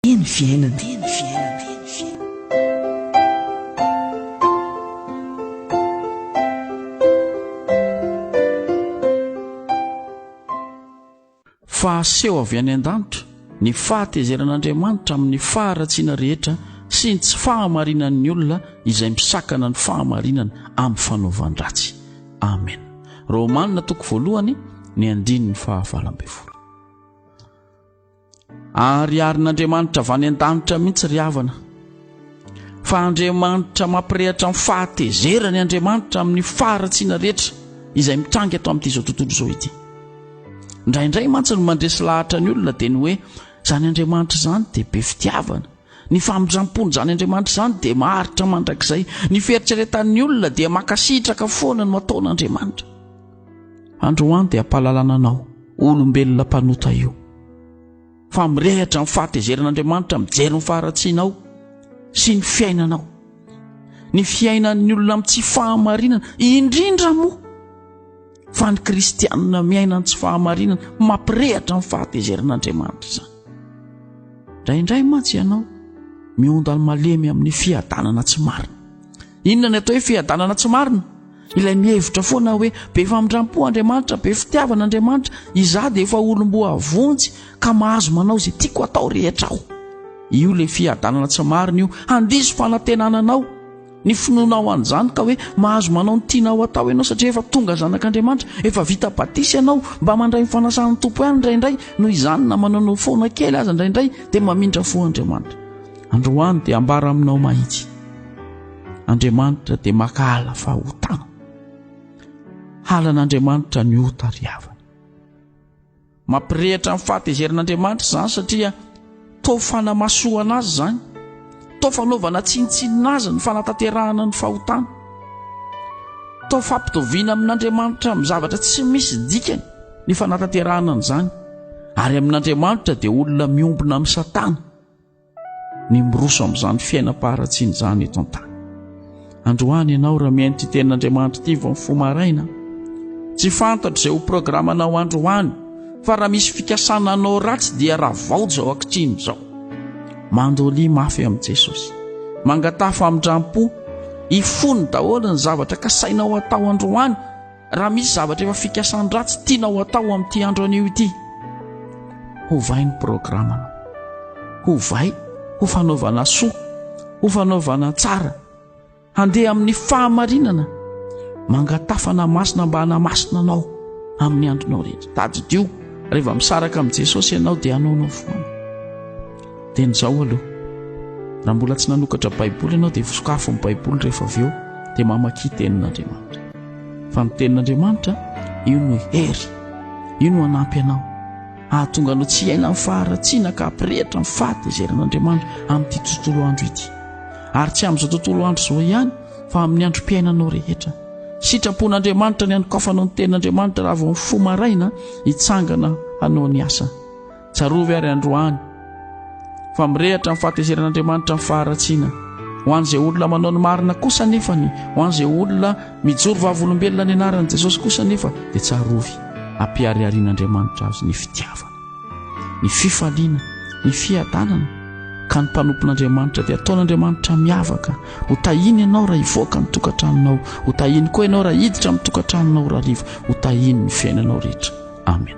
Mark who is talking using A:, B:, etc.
A: Teny fiainana. Teny fiainana. Teny fiainana.
B: Fahaseho avy any an-danitra ny fahatezeran'Andriamanitra amin'ny faharatsiana rehetra sy ny tsy fahamarinan'ny olona izay misakana ny fahamarinana amin'ny fanaovan-dratsy. Amen. Romana toko voalohany ny andininy fahavalo ambin'ny folo. Ariarin'Andriamanitra avy any an-danitra mihitsy ry havana. Fa Andriamanitra mampirehatra ny fahatezerany Andriamanitra amin'ny faharatsiana rehetra izay mitranga eto amin'ity izao tontolo izao ity. Indraindray mantsy ny mandresy lahatra ny olona dia ny hoe izany Andriamanitra izany dia be fitiavana. Ny famindram-pon'izany Andriamanitra izany dia maharitra mandrakizay. Ny fieritreretan'ny olona dia mankasitraka foana no ataon'Andriamanitra. Androany dia hampahalalana anao, olombelona mpanota io, fa mirehatra amin'ny fahatezeran'Andriamanitra mijery ny faharatsianao sy ny fiainanao. Ny fiainan'ny olona amin'ny tsy fahamarinana, indrindra moa. fa ny kristianina miaina ny tsy fahamarinana mampirehatra ny fahatezeran'andriamanitra izany indraindray mantsy ianao miondany malemy amin'ny fiadanana tsy marina inona ny atao hoe fiadanana tsy marina ilay mihevitra foana hoe be famindrampo andriamanitra be fitiavana andriamanitra izaho dia efa olomboa vonjy ka mahazo manao izay tiako atao rehetra aho io le fiadanana tsy marina io handiso fanatenananao Ny finoana ao an'izany ka hoe mahazo manao ny tianao atao ianao satria efa tonga zanak'Andriamanitra, efa vita batisa ianao, mba mandray ny fanasan'ny Tompo ihany indraindray, noho izany na manana foana kely aza indraindray dia mamindra fo Andriamanitra. Androany dia ambara aminao mahitsy. Andriamanitra dia maka ala fa otana. Halan'Andriamanitra ny ota ry havana. Mampirehitra ny fahatezerin'Andriamanitra izany satria toa fanamasohana azy izany, toa fanaovana tsinontsinona azy ny fanatanterahana ny fahotana, toa fampitoviana amin'Andriamanitra amin'ny zavatra tsy misy dikany ny fanatanterahana an'izany, ary amin'Andriamanitra dia olona miombona amin'i Satana. ny miroso amin'izany fiainam-paharatsiana izany eto an-tany androany ianao raha mihaino ity tenin'andriamanitra ity vao mifo maraina tsy fantatra izay ho programanao androany fa raha misy fikasana anao ratsy dia raha vao zao ankitriny izao mandoly mafy amin'i jesosy mangataha famindram-po hifony daholo ny zavatra kasainao atao androany Raha misy zavatra efa fikasan-dratsy tianao atao amin'ity andro anio ity, hovay ny programanao. Hovay ho fanaovana soa, ho fanaovana tsara. Handeha amin'ny fahamarinana, mangatafana masina mba hanamasina anao amin'ny andronao rehetra. Tadidio, rehefa misaraka amin'i Jesosy ianao dia anaonao foana. Dia nizao aloha. Raha mbola tsy nanokatra Baiboly ianao dia vosokafon'ny Baiboly rehefa avy eo dia mamakia tenin'Andriamanitra. Fa ny tenin'Andriamanitra, io no hery, io no hanampy anao, hahatonga anao tsy hiaina amin'ny faharatsiana ka hampirehitra ny fahatezeran'Andriamanitra amin'ity tontolo andro ity. Ary tsy amin'izao tontolo andro izao ihany, fa amin'ny androm-piainanao rehetra. Sitrapon'Andriamanitra ny hanokafanao ny tenin'Andriamanitra raha vao mifoha maraina hitsangana hanao ny asa. Tsarovy ary androany fa mirehatra ny fahatezeran'Andriamanitra ny faharatsiana. Ho an'izay olona manao ny marina kosa nefa ny ho an'izay olona mijoro vavolombelona ny anaran'i Jesosy kosa nefa dia tsarovy ampihariharian'Andriamanitra azy ny fitiavana, ny fifaliana, ny fiadanana ka ny mpanompon'Andriamanitra dia ataon'Andriamanitra miavaka. Ho tahiny ianao raha hivoaka ny tokantranonao, ho tahiny koa ianao raha hiditra amin'ny tokantranonao raha rivo, ho tahiny ny fiainanao rehetra. Amen.